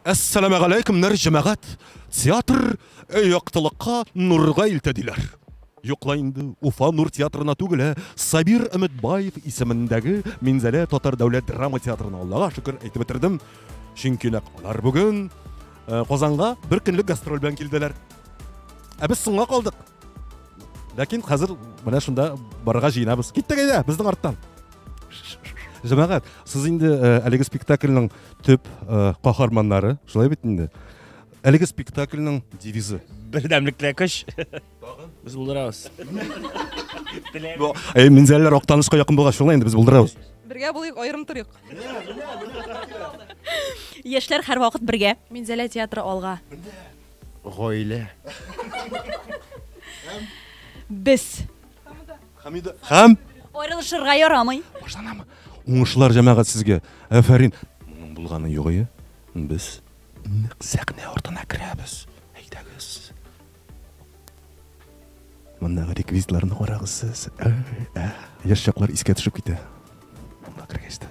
Әссәламәгаләйкемнәр җәмәгать! Театр яктылыкка, нурга илтә диләр. Юк ла инде, Уфа Нур театрына түгел, ә Сабир Өметбаев исемендәге Минзәлә татар дәүләт драма театрына, Аллага шөкер, әйтеп бетердем, чөнки нәкъ алар бүген Казанга бер көнлек гастроль белән килделәр. Ә без соңга калдык. ләкин хәзер менә шунда барырга җыенабыз киттек әйдә безнең арттан җәмәгать сез инде э, әлеге спектакльнең төп э, каһарманнары шулай бит инде әлеге спектакльнең девизы бердәмлектә көч без булдырабыз э, минзәлләр актанышка якын булгач шулай инде без булдырабыз бергә булыйк аерым торыйк яшьләр һәрвакыт бергә минзәлә театры алга Гаилә. Һәм. Без. Хамида. Һәм. Аерылышырга ярамый. Башланамы? Уңышлар җәмәгать сезгә. Әфәрин. Моның булганы югые. Без нык сәхнә артына керәбез. Әйдәгез. Мондагы реквизитларны карагыз сез. Яшь чаклар искә төшеп китә. Монда кергәч тә.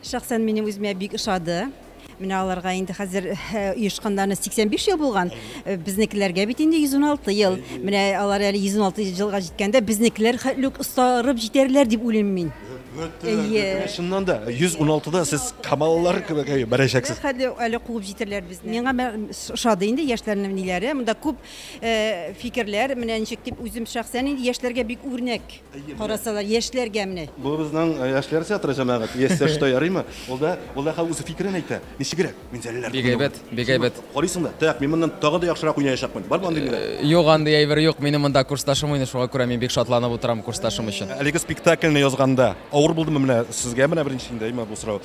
Шәхсән минем үземә бик ошады. Менә аларга инде хәзер оешканнарына 85 ел булган. Безнекеләргә бит инде 116 ел. Менә алар әле 116 елга җиткәндә безнекеләр хәтле үк остарып җитәрләр дип уйлыйм мин. Әйе. Чыннан да 116-да сез камаллар кебек бәрәчәксез. Хәтле әле куып җитәрләр безне. Миңа ошады инде яшьләрнең ниләре. Монда күп фикерләр, менә ничек дип үзем шәхсән инде яшьләргә бик үрнәк. Карасалар, яшьләргә менә. Бу безнең э, яшьләр театры җәмәгать. Яшьсә шта ярыймы? Ул да, ул да хәл үзе фикерен әйтә. Ничегрәк? Мин зәлләр. Бик әйбәт, бик әйбәт. Карыйсың да, так, мин моннан тагы да яхшырак уйнаячакмын. Бармы андый мине? Э, юк, андый әйбер юк. Минем монда курсташым уйный, шуңа күрә мин бик шатланып утырам курсташым өчен. Әлеге спектакльне язганда авыр булдымы менә сезгә менә беренче инде әйме бу сорау?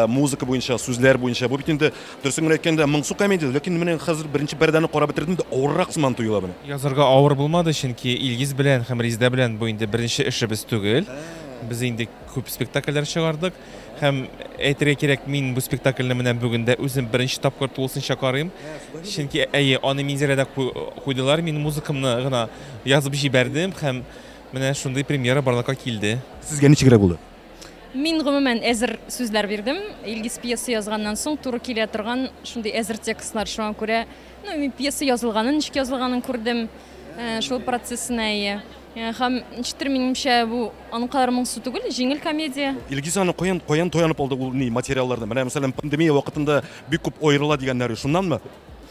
Музыка буенча, сүзләр буенча бу бит инде, дөресен генә әйткәндә, моңсу комедия, ләкин менә хәзер беренче пәрдәне карап бетердем дә, авыррак сыман тоела менә. Язарга авыр булмады, чөнки Илгиз белән һәм Резидә белән бу инде беренче эшебез түгел. Без инде күп спектакльләр чыгардык. Һәм, әйтергә кирәк, мин бу спектакльне менә бүген дә үзем беренче тапкыр тулысынча карыйм. Чөнки, әйе, аны Минзәләдә куйдылар, мин музыкамны гына язып җибәрдем һәм менә шундый премьера барлыкка килде. Сезгә ничегрәк булды? Мин гомумән әзер сүзләр бирдем. Илгиз пьеса язганнан соң туры килә торган шундый әзер текстлар. Шуңа күрә, ну, мин пьеса язылганын, ничек язылганын күрдем. Э, шул процессына ие. Э, һәм ничектер минемчә бу аның кадәр моңсу түгел, җиңел комедия. Илгиз аны каян каян таянып алды ул ни материалларны? Менә мәсәлән пандемия вакытында бик күп аерыла дигәннәре шуннанмы?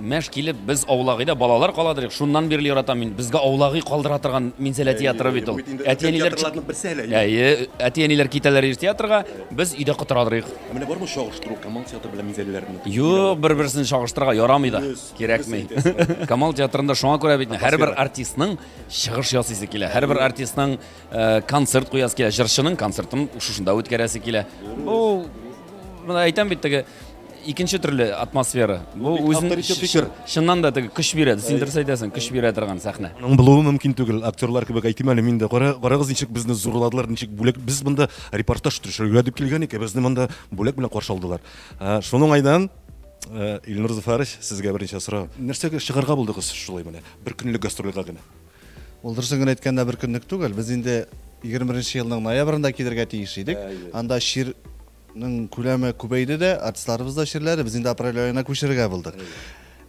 Мәш килеп, без аулагыйда балалар каладыр ик, шуннан бирле яратам мин. Безгә аулагый калдыра торган Минзәлә театры бит ул. Әти-әниләр театрларның берсе әле. Әйе, әти-әниләр китәләр ир театрга, без өйдә котырадыр ик. Ә менә бармы чагыштыру Камал театры белән Минзәләләрне? Юк, бер-берсен чагыштырырга ярамый да. Кирәкми. Камал театрында шуңа күрә бит һәрбер артистның чыгыш ясыйсы килә. Һәрбер артистның концерт куясы килә. Җырчының концертын шушында үткәрәсе килә. Бу, менә әйтәм бит теге икенче төрле атмосфера. Бу үзен чыннан да теге көч бирә. Син дөрес әйтәсең, көч бирә торган сәхнә. Аның булуы мөмкин түгел. Актерлар кебек әйтим әле мин дә. Карагыз, ничек безне зурладылар, ничек бүләк. Без монда репортаж төшерергә дип килгән идек, ә безне монда бүләк белән каршы алдылар. Шуның уңайдан Илнур Зөфәрович, сезгә беренче сорау. Нәрсәгә чыгарга булдыгыз шулай менә бер көнлек гастрольгә генә? Ул дөресен генә әйткәндә бер көнлек түгел. Без инде 21 елның ноябрендә килергә тиеш идек. Анда чир Ның күләме күбәйде дә, артистларыбыз да чирләде, без инде апрель аена күчерергә булдык.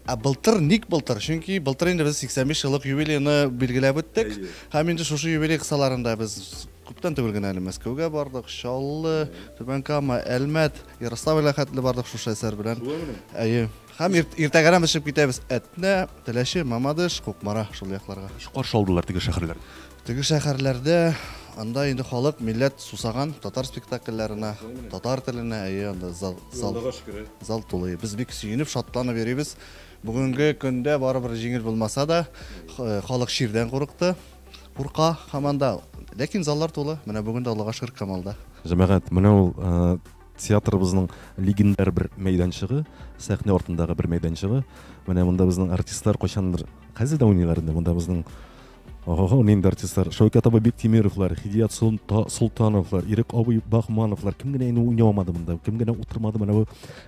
Ә былтыр ник былтыр? Чөнки былтыр инде без 85 еллык юбилейны билгеләп үттек. Һәм инде шушы юбилей кысаларында без күптән түгел генә әле Мәскәүгә бардык, Чаллы, Түбән Кама, Әлмәт, Ярославльгә хәтле бардык шушы әсәр белән. Әйе. Һәм иртәгәрәк без чыгып китәбез Әтнә, Теләче, Мамадыш, Кукмара шул якларга. Ничек каршы алдылар теге шәһәрләр? Теге шәхәрләрдә анда инде халык, милләт сусаган татар спектакльләренә, татар теленә, әйе, анда зал, зал, зал тулый. Без бик сөенеп, шатланып йөрибез. Бүгенге көндә барыбер җиңел булмаса да, х- халык чирдән курыкты, курка һаман да. Ләкин заллар тулы. Менә бүген дә Аллага шөкер Камалда. Җәмәгать, менә ул э, театрыбызның легендар бер мәйданчыгы, сәхнә артындагы бер мәйданчыгы. Менә монда безнең артистлар кайчандыр, хәзер дә уйныйлар инде, монда безнең Ого-го, нинди артистлар. Шәүкәт абый Биктимировлар, Хидият Султа, Султановлар, Ирек абый Бахмановлар. Кем генә инде уйнамады монда, кем генә утырмады менә бу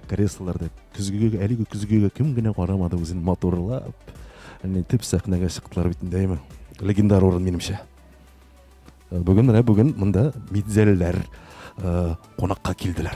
креслоларда. Көзгегә, әлеге көзгегә кем генә карамады үзен матурлап. Әне төп сәхнәгә чыктылар бит инде, әйме. Легендар урын минемчә. Э, бүген менә бүген монда Мидзәлләр э, кунакка килделәр.